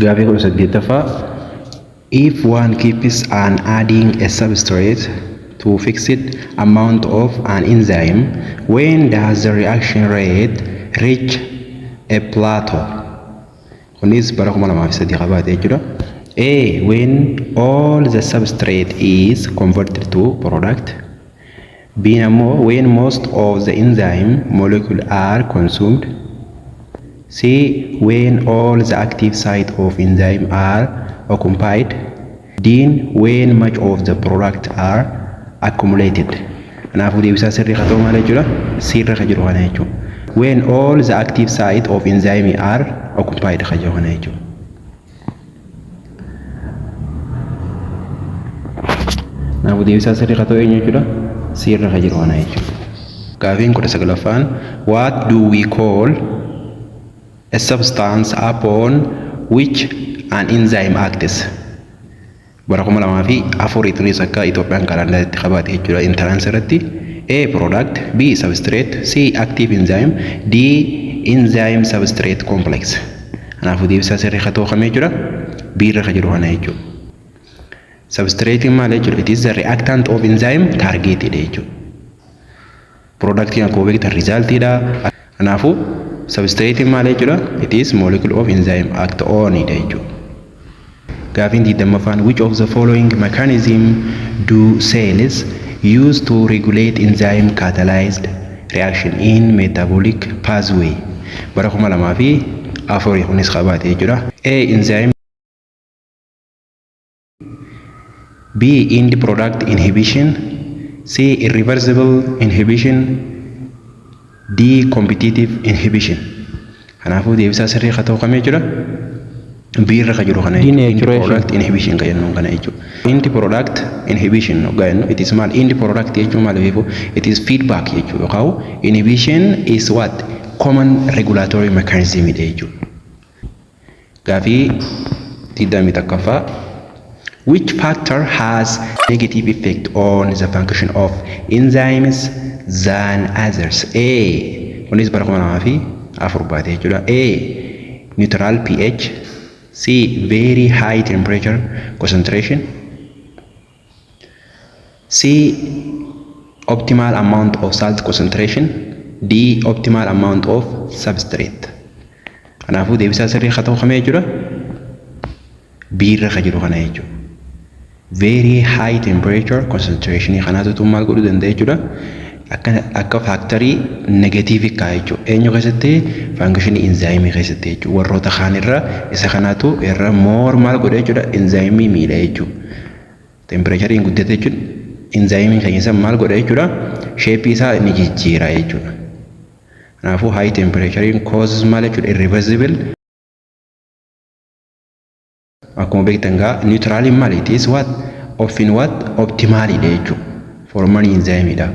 Gaaffii 18ffaa If one keeps on adding a substrate to fixed amount of an enzyme, when does the reaction rate reach a plateau? Kunis bara 2003 qabaate jechuudha. A. When all the substrate is converted to product. B'n ammoo when most of the enzyme molecule are consumed C when all the active site of enzyme are occupied D when much of the product are accumulated Kanaafuu deebisaa sirrii ka ta'u maal jechuudha? C irra ka jiru kana jechuudha. When all the active site of enzyme are occupied ka jiru kana jechuudha. Kanaafuu deebisaa sirrii haa ta'u eenyu jechuudha? C irra kan jiru kana jechuudha. Gaafiin kudha saglaffaan What do we call a substance upon which an enzyme acts? Bara 2004 tunis akka Ethiopian calendar itti qabaate jechuudha entrance irratti A. Product B. Substrate C. Active enzyme D. Enzyme substrate complex kanaafuu deebisaa sirrii ka ta'u kami jechuudha B irra ka jiru kana jechuudha. Substrate maal jechuudha? It is the reactant of enzyme targeted jechuudha. Productiin akkuma beektan result dha. Kanaafuu substrate maal jechuudha? It is molecule of enzyme act on dha jechuudha. Gaafiin 20ffaan which of the following mechanism do cells use to regulate enzyme catalyzed reaction in metabolic pathway? Bara 2004 kunis qabaate jechuudha. A. Enzyme B. End product inhibition C. Irreversible inhibition D. Competitive inhibition Kanaafuu deebisaa sirrii ka ta'u kami jechuudha? B irra ka jiru kana jechuudha. End Denaturation. product inhibition ka jennuun kana jechuudha. End product inhibition hoggaa jennu it is maal? End product jechuun maal beeku? It is feedback jechuudha. Yookaan inhibition is what? Common regulatory mechanism dha jechuudha. Gaafii 21ffaa Which factor has negative effect on the function of enzymes than others? A. Kunis bara 2004 baate jechuudha. A. Neutral pH C. Very high temperature concentration C. Optimal amount of salt concentration D. Optimal amount of substrate Kanaafuu deebisaa sirrii akka ta'u kamee jechuudha B irra kan jiru kana jechuudha. Very high temperature concentration kanaatu tun maal godhuu danda'a jechuudha. Akka akka faaktarii negatiivii kaa'a jechuudha. Eenyu keessatti faangishinii inzaayimii keessatti jechuudha. Warroota kaan irra isa kanaatu irra moor maal godha jechuudha inzaayimii miidha jechuudha. Tempireechariin guddate jechuun inzaayimiin keenya san maal godha jechuudha sheepii isaa ni jijjiira jechuudha. Kanaafuu haayi tempireechariin koozis maal jechuudha irriversibili. Akkuma beektan gaa niwutiraaliin maali? It is what? Ofin what? Optimaaliidha jechuudha. Foormanii inzaayimiidha.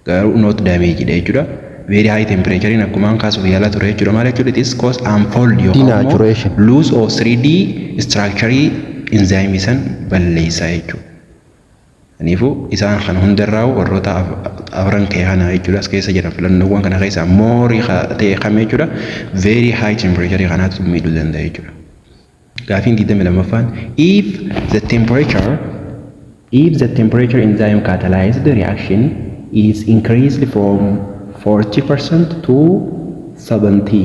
Garuu not damage dha jechuudha. Very high temperature akkumaan kaasuuf yaalaa ture jechuudha. Maal jechuudha? It is cause unfold yookaan immoo Denaturation. loose of 3D structure inzaayimii san balleessaa jechuudha. Kaniifuu isaan kana hundarraa'u warroota afran kee kana jechuudha as keessa jiran filannoowwan kana keessa moorii ta'e kami jechuudha very high temperature kanaatu miidhuu danda'a jechuudha. Gaafiin 22ffaan if the temperature if the temperature enzyme catalyzed reaction is increased from 40% to 70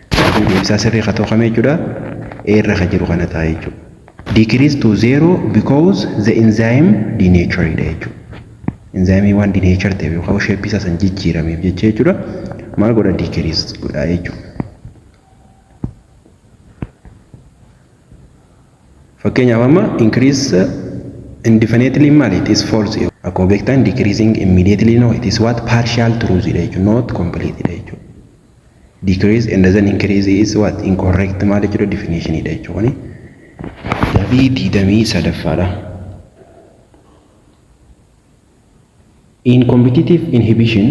Sirriin deebisaa sirrii ka ta'u kami jechuudha? A irra ka jiru kana ta'a jechuudha. Decrease to zero because the enzyme denatured dha jechuudha. Enzyme waan denature ta'eef yookaan shape isaa san jijjiirameef jecha jechuudha. Maal godha decrease godha jechuudha. Fakkeenyaaf amma increase indefinitely maal it is false. Akkuma beektan decreasing immediately no it is what partial truth dha jechuudha not complete dha jechuudha. decrease and doesn't increase is what incorrect maal jechuudha definition dha jechuudha kuni gabii digdamii sadaffaadha in competitive inhibition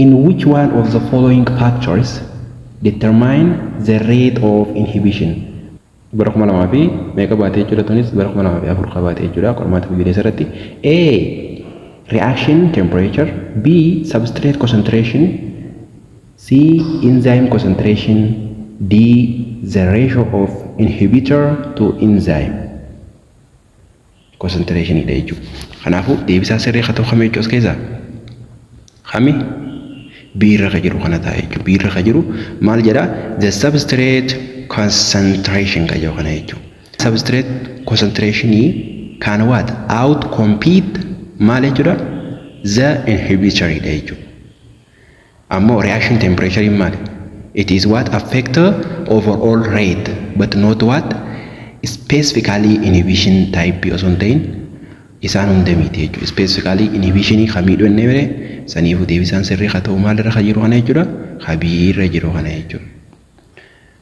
in which one of the following factors determine the rate of inhibition bara 2000 fi meeqa baate jechuudha tunis bara 2004 ka baate jechuudha qormaata biyyaleessa irratti A reaction temperature B substrate concentration C enzyme concentration D the ratio of inhibitor to enzyme concentration dha jechuudha. Kanaafuu deebisaan sirrii ka ta'u kami jechuudha as keessaa? Kami? B irra ka jiru kana ta'a jechuudha. B irra ka jiru maal jedha? The substrate concentration ka jedhu kana jechuudha. Substrate concentration can what? Out compete maal jechuudha? The inhibitor dha jechuudha. Ammoo reaction temperature'n maali? It is what affect overall rate but not what specifically inhibition type osoo hin ta'in isaan hunda miti jechuudha. Specifically inhibition kan miidhu ennee mire saniifu deebisaan sirrii ka ta'u maalirra ka jiru kana jechuudha. Ka B irra jiru kana jechuudha.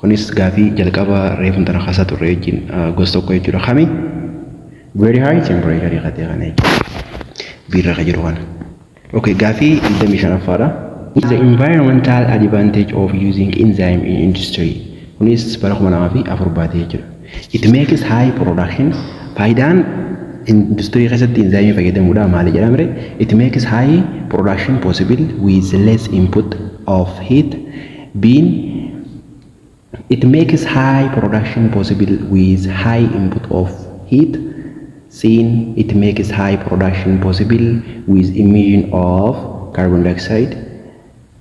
Kunis gaafii jalqaba reefun tana kasa turre wajjin gos tokko jechuudha. Kami? Very high temperature ka ta'e kana jechuudha. Biirra ka jiru kana. Okay, gaafii 25ffaadha. The environmental advantage of using enzyme in industry. Kunis bara 2004 baatee jechuudha. It makes high production. Faayidaan industirii keessatti enzyme fayyadamuudha maali jedhamre? It makes high production possible with less input of heat B'n It makes high production possible with high input of heat C'n It makes high production possible with emission of carbon dioxide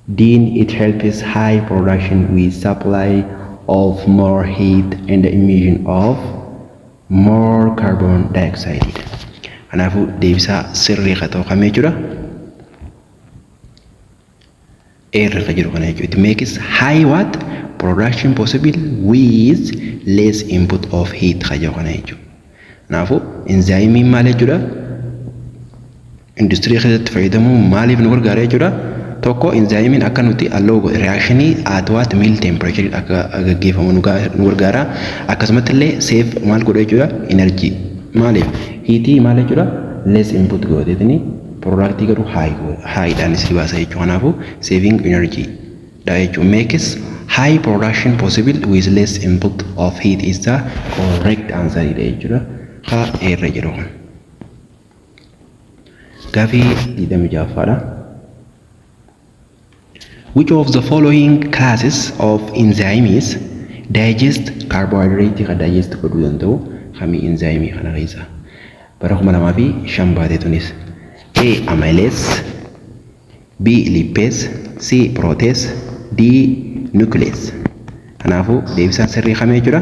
D'n It helps high production with supply of more heat and emission of more carbon dioxide dha. Kanaafuu deebisaa sirrii ka ta'u kami jechuudha? Air irra jiru kana jechuudha. It makes high what production possible with less input of heat kan jedhu kana jechuudha. Kanaafuu inzaayimiin maal jechuudha? Industirii keessatti fayyadamuu maaliif nu gargaara jechuudha? Tokko inzaayimiin akka nuti alloo godhe reakshinii at what mill temperature akka gaggeeffamu nu gargaara. Akkasumatti illee seef maal godha jechuudha? Energy maaliif? Hiitii maal jechuudha? Less input godheetini Product garuu high go high dhaan isii baasa jechuu kanaafu saving energy dha jechuu makes high production possible with less input of heat is the correct answer dha jechuudha ka eerra jiru kun gaafii 26ffaadha Which of the following classes of enzymes digest carbohydrate ka digest godhuu danda'u kami enzyme kana keessa bara 2005 baate tunis A amylase B lipase C protease D nuclease kanaafuu deebisaan sirrii kami jechuudha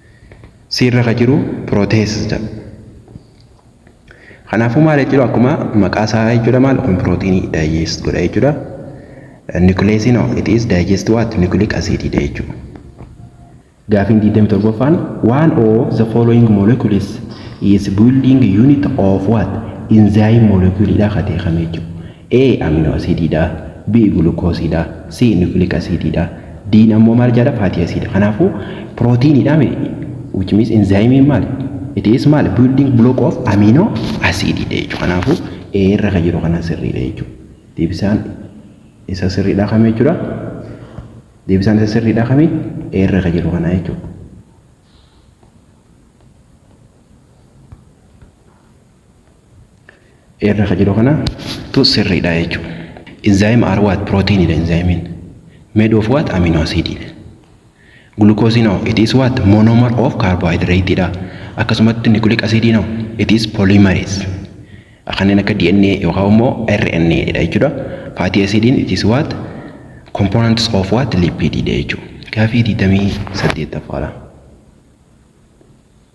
C irra ka jiru protease jedhama. Kanaafuu maal jechuudha akkuma maqaa isaa jechuudha maal kun pirootiinii digest godha jechuudha. Nucleasiin hoo it is digest what nucleic acid dha jechuudha. Gaafiin 27ffaan one of the following molecules is building unit of what enzyme molecule dha ka ta'e kami jechuudha. A amino asiidii dha, B gulukoosii dha, C nucleic asiidii dha, D ammoo maal jedha fatty acid. Kanaafuu pirootiinii dha mee which means enzyme maali? It is maali building block of amino acid dha jechuudha. Kanaafuu A irra kan jiru kana sirrii dha jechuudha. Deebisaan isa sirrii dha kami jechuudha? Deebisaan isa sirrii dha kami? A irra kan jiru kana jechuudha. irra ka jiru kana tu sirriidha jechuudha. Enzyme are what? Proteinidha enzyme'n. Made of what? Amino acididha. Glucose no, it is what? Monomer of carbohydrate dha. Akkasumatti nucleic acid no, it is polymerase. Kanneen akka DNA yookaan immoo RNA dha jechuudha. Fatty acid'n it is what? Components of what? Lipid dha jechuudha. Gaafii 28ffaadha.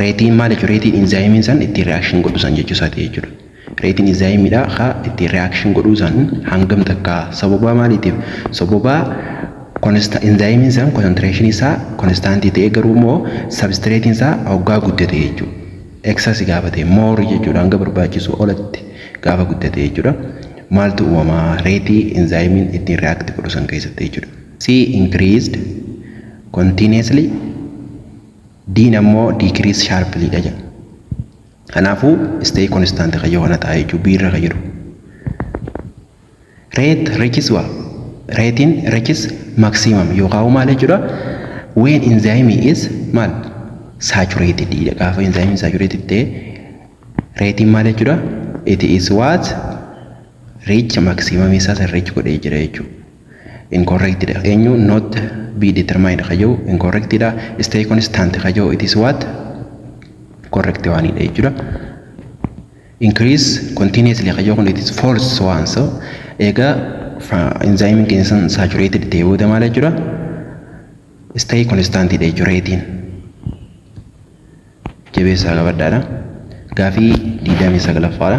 Reetiin maal jechuudha? Reetiin inzaayimiin san ittiin reaction godhu san jechuu isaati jechuudha. Reetiin inzaayimiidha ka ittiin reaction godhuu san hangam takka sababaa maaliitiif? Sababaa konsta inzaayimiin san concentration isaa konstaantii ta'ee garuu immoo substratein isaa hoggaa guddate jechuudha. Excess gaafate more jechuudha hanga barbaachisu olatti gaafa guddate jechuudha. Maaltu uumama reetii inzaayimiin ittiin react godhu san keessatti jechuudha. C increased continuously D'n ammoo decrease sharply dha jedha. Kanaafuu stay constant kan yoo kana ta'a jechuudha B irra kan jiru. Rate reaches waa reetiin reaches maximum yookaan maal jechuudha when enzyme is maal saturated dha gaafa enzyme saturated ta'e reetiin maal jechuudha it is what reach maximum isaa san reach godhee jira jechuudha. incorrect dha. Eenyu not be determined ka jedhu incorrect dha. Stay constant ka jedhu it is what correct waan dha jechuudha. Increase continuously ka jedhu kun it is false waan so egaa enzyme keenya sun saturated ta'e booda maal jechuudha? Stay constant dha jechuudha reetiin. Jabeessaa qabadhaadha. Gaafii 29ffaadha.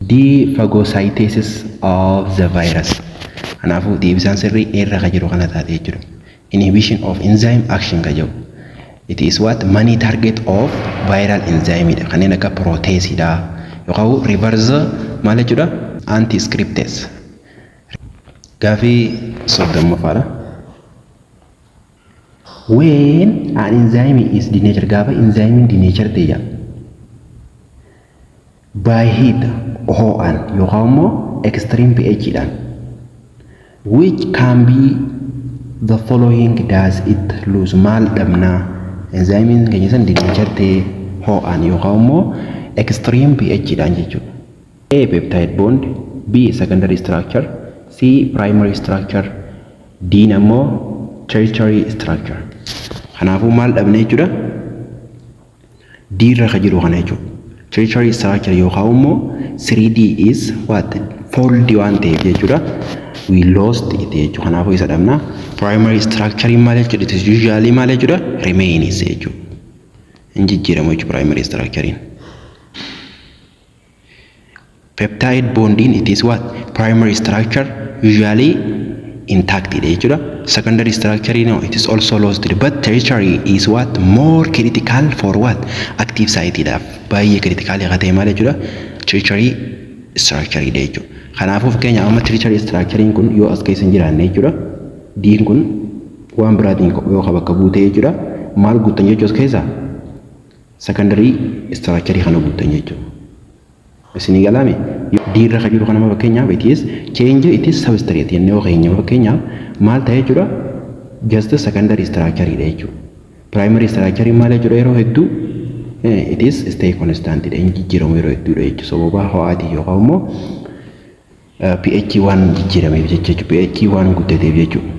D. Phagocytesis of the virus. Kanaafuu deebisaan sirrii A irra ka jiru kana taate jechuudha. Inhibition of enzyme action ka jedhu. It is what many target of viral enzyme dha. Kanneen akka protease dha. Yookaan reverse maal jechuudha? Anti scriptase. Gaafii soddommaffaadha. When an enzyme is denatured gaafa enzyme denatured ta'e jedha. By heat, hoo'aan, yookaan immoo extreme pH dhaan. Which can be the following does it lose maal dhabnaa? Enzymiin keenya san denatured ta'ee hoo'aan yookaan immoo extreme pH dhaan jechuudha. A. Peptide bond B. Secondary structure C. Primary structure D. Ammoo tertiary structure. Kanaafuu maal dhabne jechuudha? D irra ka jiru kana jechuudha. Tertiary structure yookaan immoo 3D is what? Fold waan ta'eef jechuudha. We lost it jechuudha. Kanaafuu isa dhabna. Primary structure in maal jechuudha? It is usually maal jechuudha? Remains jechuudha. Hin jijjiiramu jechuudha primary structure in. Peptide bondiin it is what? Primary structure usually intact dha jechuudha. Secondary structure no it is also lost dha. But tertiary is what? More critical for what? Active site dhaaf. Baay'ee critical akka ta'e maal jechuudha? Tertiary structure dha jechuudha. Kanaafuu fakkeenyaaf amma tertiary structure kun yoo as keessa hin jiraanne jechuudha. Diin kun waan biraatiin yoo bakka buutee jechuudha. Maal guuttan jechuu as keessaa? Secondary structure kana guuttan jechuudha. Isinii galaame D irra kan jiru kanama fakkeenyaaf it is change it is substrate jennee yoo keenyaaf fakkeenyaaf maal ta'e jechuudha just secondary structure dha jechuudha. Primary structure maal jechuudha yeroo hedduu it is stay constant dha hin jijjiiramu yeroo hedduudha jechuudha sababa ho'aatiin yookaan immoo pH waan jijjiirameef jecha jechuudha. pH waan guddateef jechuudha.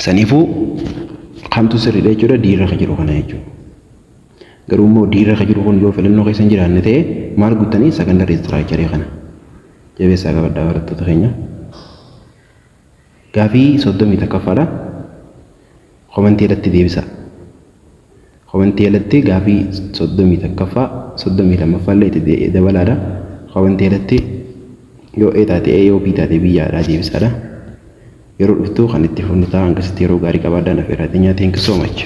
Saniifuu kamtu sirriidha jechuudha diirra kan jiru kana jechuudha. Garuu immoo diirra kan jiru kun yoo filannoo keessa hin jiraanne ta'e maal guuttanii sakandari istiraakcharii kana jabeessaa qabadhaa barattoota keenya. Gaafii 31ffaadha. Komentii jalatti deebisaa. Komentii jalatti gaafii 31ffaa, 32ffaallee itti dabalaadha. Komentii jalatti yoo A taate A, yoo B taate B yaadhaa deebisaadha. Yeroo dhuftuu kan itti fufnu ta'a. Hangasitti yeroo gaarii qabaadhaa. Naf irraa xinyaa. Thank you so much.